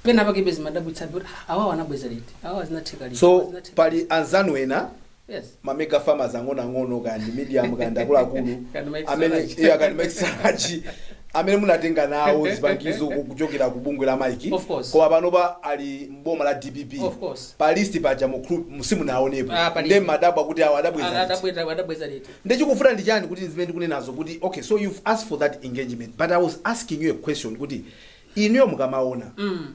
pena pakebe zimadabwitsabe kuti "Ah, awawa anabweza liti awawa zinatheka liti so awawa zinatheka pali anzanu ena Yes. ma mega farmers ang'onoang'ono kaya ndi medium kaya ndi akuluakulu amene iya, kaya ndi ma extract, amene munatenga nawo zipangizo ku- kuchokera ku bungwe la MAIIC Of course. koma panopa ali mboma la DPP Of course. pa list paja mu- simunaonepo Ah, pali- nde mumadabwa kuti awo adabweza liti. Adabweza adabweza liti. ndechikufuna ndi chani kuti zimene ndikunenazo kuti okay so you've asked for that engagement but i was asking you a question kuti inuyo mukamaona Mm.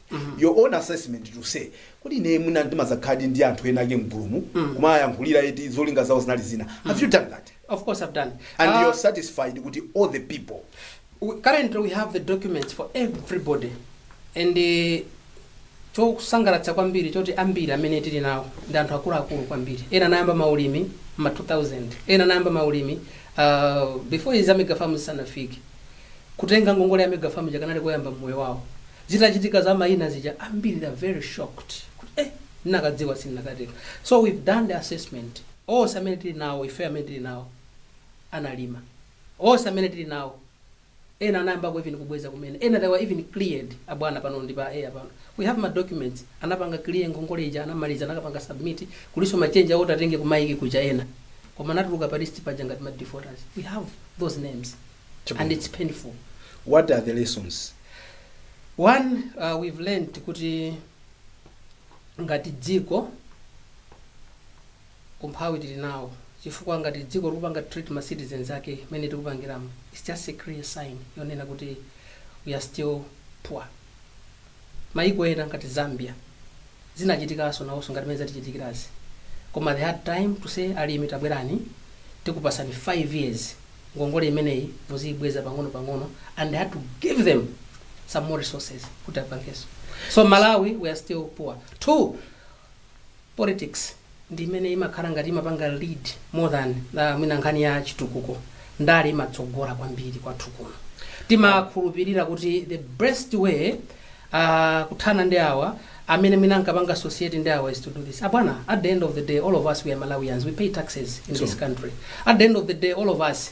your own assessment to say kodi ine mwina ndimadzakhaladi ndi anthu ena ake mgulumu kumayankhulira eti zolinga zawo zinali zina have you done that Of course, I've done. and Uh, you're satisfied kuti all the people we- currently, we have the documents for everybody, and uh, chosangalatsa kwambiri choti ambiri amene tili nawo ndi anthu akuluakulu kwambiri ena anayamba maulimi ma 2000 ena anayamba maulimi uh, before izi za megafamu zisanafike kutenga ngongole ya megafamu ija kanali koyamba mmoyo wawo zitachitika za maina zija ambiri they're very shocked kuti eh ndinakadziwa sindinakatenga so we've done the assessment onse amene tili nawo ife amene tili nawo analima onse amene tili nawo ena anayambako even kubweza kumene ena they were even cleared abwana pano ndi pa air pano we have ma documents anapanga clear ngongole ija anamaliza anakapanga submit kuliso machenji awo tatenge ku MAIIC kuja ena koma anatuluka pa list paja ngati ma defaulters we have those names Chabwino. and it's painful what are the lessons one uh, we've learned kuti ngati dziko umphawi tili nawo chifukwa ngati dziko likupanga treat ma citizens ake mmene tikupangiramo it's just a clear sign yonena kuti we are still poor Mayiko ena ngati Zambia zinachitikaso nawoso ngati mmene zatichitikirazi koma they had time to say alimi tabwerani tikupasani 5 years ngongole imeneyi muziyibweza pang'ono pang'ono and they had to give them some more resources kuti apangeso. So Malawi we are still poor. Two, Politics ndi imene imakhala ngati imapanga lead more than mwina nkhani ya chitukuko. Ndale imatsogola kwambiri kwathu kuno. Timakhulupirira kuti the best way kuthana ndi awa amene mwina ankapanga associate ndi awa is to do this. Abwana, at the end of the day all of us we are Malawians, we pay taxes in this country. At the end of the day all of us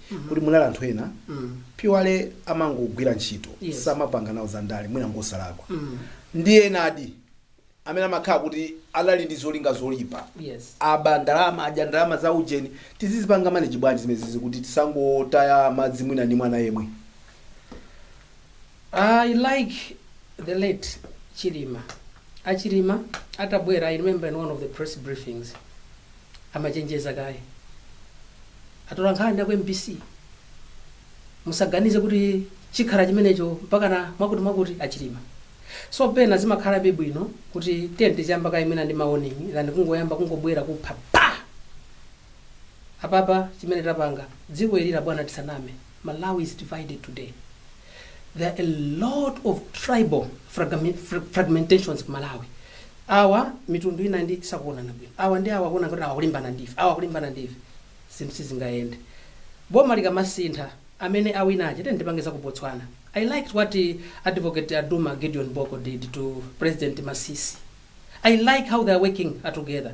kuti munali anthu ena pawokha amangogwira ntchito Yes. samapanga nawo za ndale mwina ngosalakwa ndi enadi amene amakhala kuti anali ndi zolinga zoyipa Yes. aba ndalama adya ndalama za ujeni tizizipanga manage bwanji zimenezizi kuti tisangotaya madzi mwina ndi mwana yemwe I like the late Chilima. Achilima atabwera, I remember in one of the press briefings, amachenjeza kaye atolankhani aku mbc musaganize kuti chikhala chimenecho mpakana mwakuti mwakuti achilima so pena zimakhalabe bwino kuti tiyeni tichiyamba kaye mwina ndi mawarning than kungoyamba kungobwera kupha apapa chimene tapanga dziko ilila bwana tisaname Malawi is divided today. There are a lot of tribal fragami- fra- fragmentations ku Malawi. Awa mitundu inayi sakuonana bwino. Awa ndi awa kuona ngati akulimbana ndife. Awa akulimbana ndife. Zinthu sizingayende. Boma likamasintha amene awina aja tiyeni tipange za ku Botswana. I liked what eh, advocate Duma Gideon Boko did to President Masisi. I like how they are working uh, together.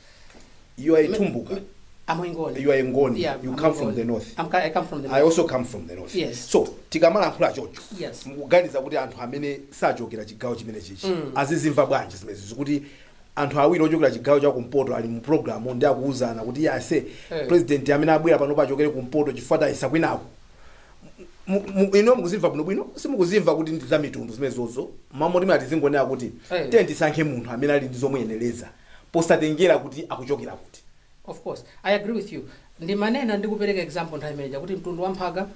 You are a Tumbuka. I'm a Ngoni. You are a Ngoni. Yeah, you I'm come a from Ngoni. the north. I'm, I come from the I north. also come from the north. Yes. So tikamalankhula chocho. Yes. Mukuganiza kuti anthu amene sachokera chigawo chimenechichi. Mm. Azizimva bwanji zimenezizi kuti anthu awiri ochokera chigawo cha kumpoto ali mu program ndi akuuzana kuti iye ase Eh. president amene abwera pano achokere kumpoto chifukwa tayesa kwinako. Mu- mu- ino mukuzimva bwinobwino simukuzimva kuti ndi za mitundu zimenezozo m'malo moti tizingonena kuti Eh. tiye tisankhe munthu amene ali ndi zomuyenereza posatengera kuti akuchokera kuti. Of course. I agree with you. Ndimanena ndi kupereka example nthawi imene ija kuti mtundu wa mphaka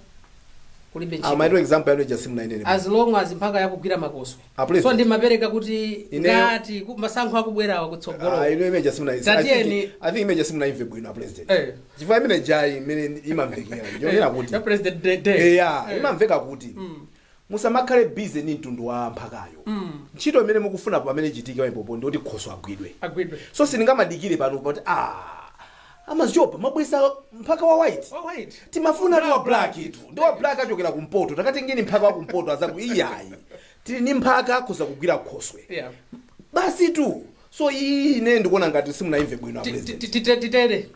kulibe ntchito. Amayi, example yanu ija simunainene. As long as mphaka yakugwira makoswe. A president. So ndimapereka kuti Ine- ngati ku- masankho akubwerawa kutsogolo. Ah, ino imene ija simuna Tatieni- I think imene ija simunaimve bwino a president. Eh. Chifukwa imene ijayi mmene imamvekera. Yonena kuti. Ya President Day. Day. Eya, Eh. imamveka kuti. Musamakhale busy ndi mtundu wa mphakayo. Ntchito imene mukufuna pamene ichitike pompopo ndi yoti khoswe agwidwe. Agwidwe. So sindingamadikire pano poti aah a Maziopa mwabweretsa mphaka wa white? Wa white. Timafunatu wa blacktu. Ndi wa black achokera ku mpoto. Takatengeni mphaka wa ku mpoto azaku iyayi. Tili ndi mphaka akhoza kugwira Khoswe. Yeah. Basitu. So iyiyi ine ndikuona ngati simunaimve bwino a president. Titere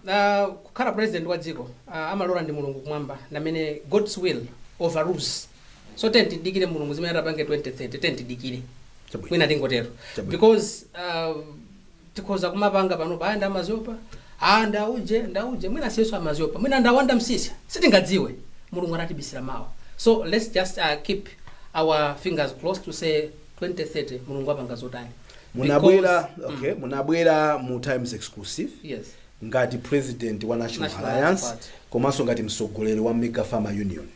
kukhala president wa dziko amalola ndi mulungu kumwamba ndamene God's will overrules so tiyeni tidikire mulungu zimene atapange 2030 tiyeni tidikire mwina tingotero because tikhoza kumapanga panopa ayi nda Maziopa a ndauje ndauje mwina siyenso a Maziopa mwina nda Wanda Msiska sitingadziwe mulungu anatibisira mawa so let's just uh, keep our fingers crossed to say 2030 mulungu apanga zotani munabwera okay munabwera mu times exclusive yes ngati president wa national, National alliance Alliance Party. komanso ngati mtsogoleri wa Mega Farmers Union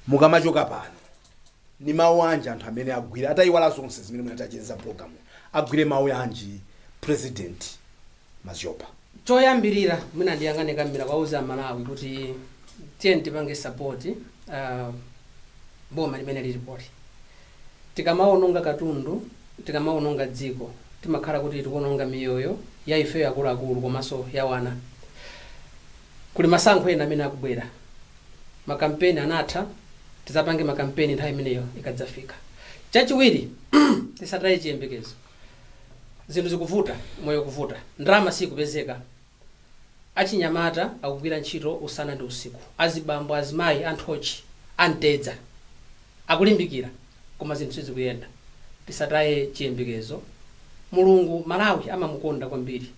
mukamachoka pano ndi mawu anji anthu amene agwire atayiwala zonse zimene munatichezera program agwire mawu anji president Maziopa. Choyambirira mwina ndiyang'ane kamera kuwauza a Malawi kuti tiyeni tipange support boma limene lilipoli. Tikamaononga katundu, tikamaononga dziko timakhala kuti tikuononga miyoyo ya ifeyo akuluakulu komanso ya wana. Kuli masankho ena amene akubwera. Ma campaign anatha, tizapange ma campaign nthawi imeneyo ikadzafika. Chachiwiri tisataye chiyembekezo. zinthu zikuvuta moyo ukuvuta ndalama siikupezeka achinyamata akugwira ntchito usana ndi usiku azibambo azimayi a nthochi a mtedza akulimbikira koma zinthu sizikuyenda tisataye chiyembekezo mulungu malawi amamukonda kwambiri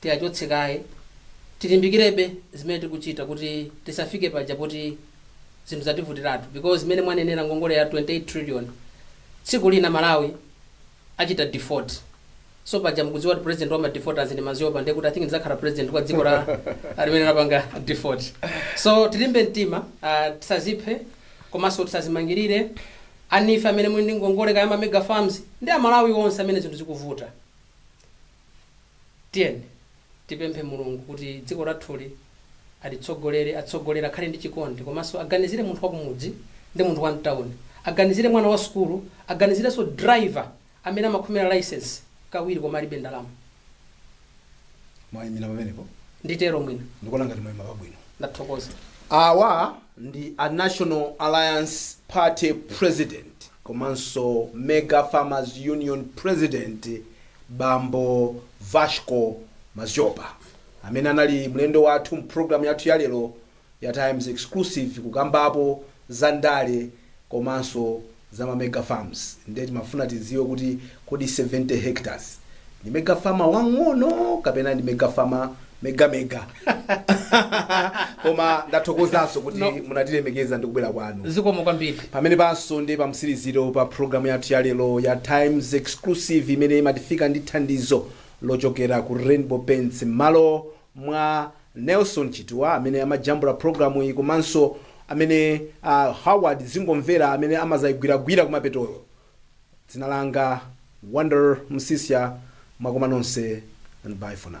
tisachoke kaye, tilimbikirebe zimene tikuchita kuti tisafike paja poti zinthu zativutiratu because zimene mwanenera ngongole ya 28 trillion tsiku lina Malawi achita default so paja mukudziwa kuti president wa ma defaulters ndi maziopa ndiye kuti I think ndizakhala president kwa dzikolo limene lapanga default so tilimbe mtima uh, tisaziphe komanso tisazimangirire ena ife amene muli ndi ngongole kaya ma mega farms ndi amalawi onse amene zinthu zikuvuta Tiyeni tipemphe Mulungu kuti dziko lathuli atitsogolere, atsogolere akhale ndi chikondi komanso aganizire munthu wakumudzi ndi munthu wa mtauni, aganizire mwana wa sukulu, aganizirenso driver amene amakhomera licence kawiri koma alibe ndalama. Mwaimira pamenepo Nditero mwina. ndikuona ngati mwaima pabwino. Ndathokoza. Awa ndi a National Alliance Party President. komanso Mega Farmers Union President bambo Vasco Mazyopa amene anali mlendo wathu mu program yathu ya lero ya Times Exclusive kukambapo za ndale komanso za ma Mega Farms nde timafuna tidziwe kuti Kodi 70 hectares ndi mega farmer wang'ono kapena ndi mega farmer mega mega koma ndathokozanso kuti munatilemekeza ndi kubwera kwanu zikomo kwambiri pamenepanso ndi pamtsiriziro pa programu yathu ya lero ya times exclusive imene imatifika ndi thandizo lochokera ku rainbow paints mmalo mwa nelson chituwa amene amajambula programu iyi komanso amene uh, howard zingomvera amene amazayigwiragwira kumapetoyo Dzina langa Wanderer Msisya mwakoma nonse and bye for now.